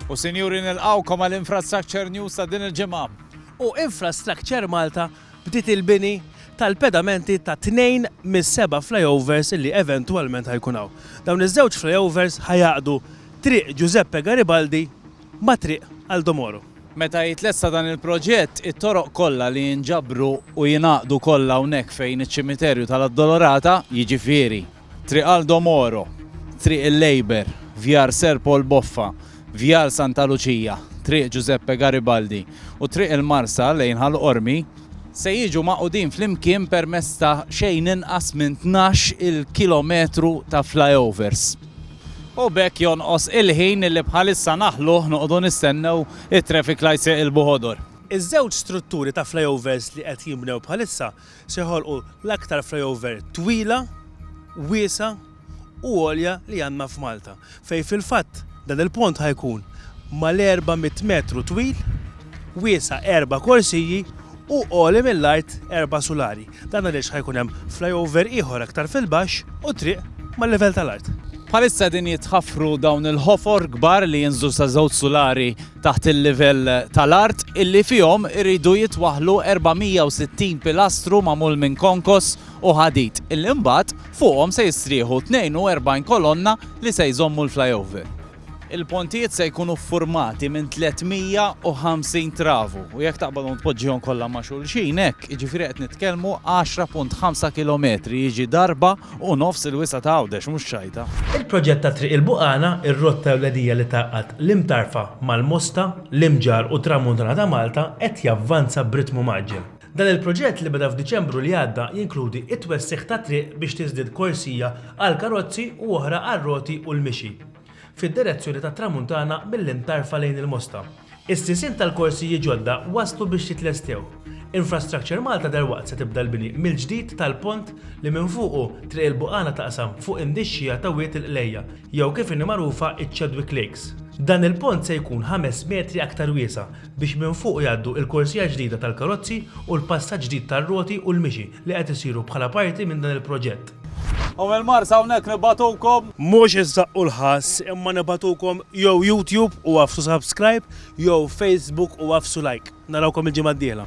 U sinjuri nilqawkom għal Infrastructure News ta' din il-ġimgħa. U Infrastructure Malta bdiet il-bini tal-pedamenti ta' tnejn mis-seba' flyovers li eventwalment ħajkun hawn. Dawn iż-żewġ flyovers ħajgħaqqdu Triq Giuseppe Garibaldi ma' Triq Aldo Moro. Meta jitlesta dan il-proġett, it-toroq kollha li jinġabru u jingħaqdu kollha hawnhekk fejn iċ-ċimiterju tal-Addolorata, jiġifieri, Triq Aldo Moro, Triq il-Labour, Vjar Sir Paul Boffa, Vjal Santa Luċija, Triq Ġużeppe Garibaldi u Triq il-Marsa lejn Ħal Qormi, se jiġu magħqudin flimkien permezz ta' xejn inqas minn tnax il kilometru ta' flyovers. U b'hekk jonqos il-ħin li bħalissa naħlu noqogħdu nistennew it-traffic lights iqilbu ħodor. Iż-żewġ strutturi ta' flyovers li qed jinbnew bħalissa Se joħolqu l-aktar flyover twila, wiesgħa u għolja li għandna f'Malta, fejn fil-fatt dan il-pont ħa jkun mal-400 metru twil, wiesgħa erba' korsiji u għoli mill-art erba' sulari. Dan għaliex ħa jkun hemm flyover ieħor aktar fil-baxx u triq mal-livell tal-art. Bħalissa qegħdin jitħaffru dawn il-ħofor kbar li jinżlu sa żewġ sulari taħt il-livell tal-art, illi fihom iridu jitwaħħlu 460 pilastru magħmul minn konkos u ħadid, illi mbagħad fuqhom se jistrieħu 42 kolonna li se jżommu l-flyover. Il-pontijiet se jkunu ffurmati minn 350 travu u jekk taqbadhom tpoġġihom kollha ma' xulxin hekk, jiġifieri qed nitkellmu 10.5 kilometri, jiġi darba Hu nofs il-wisa' ta' Għawdex, mhux Xajta. Il-proġett ta' Triq il-Buqana, ir-rotta ewlenija li tgħaqqad l-Imtarfa mal-Mosta, l-Imġarr u t-Tramuntana ta' Malta, qed javvanza b'ritmu mgħaġġel. Dan il-proġett li beda f'Diċembru li għadda jinkludi t-twessigħ ta' triq biex tiżdied korsija għall-karozzi u oħra għar-roti u l-mixi fid-direzzjoni tat-Tramuntana mill-Imtarfa lejn il-Mosta. Is-sisien tal-korsijiet ġodda waslu biex jitlestew. Infrastructure Malta dalwaqt se tibda l-bini mill-ġdid tal-pont li minn fuqu Triq il-Buqana taqsam fuq in-nixxigħa ta' Wied il-Qlejja, jew kif inhi magħrufa iċ-Chadwick Lakes. Dan il-pont se jkun ħames metri aktar wiesa' biex minn fuqu jgħaddu il-korsija ġdida tal-karozzi u l-passaġġ ġdid tar-roti u l-mixi li qed isiru bħala parti minn dan il-proġett. U mill-Mars hawnhekk nibgħatukom. Mhux iżżaqqu l-ħass imma nibgħatukom jew YouTube u għaffsu subscribe jew Facebook u għaffsu like. Narawkom il-ġimgħa d-dieħla.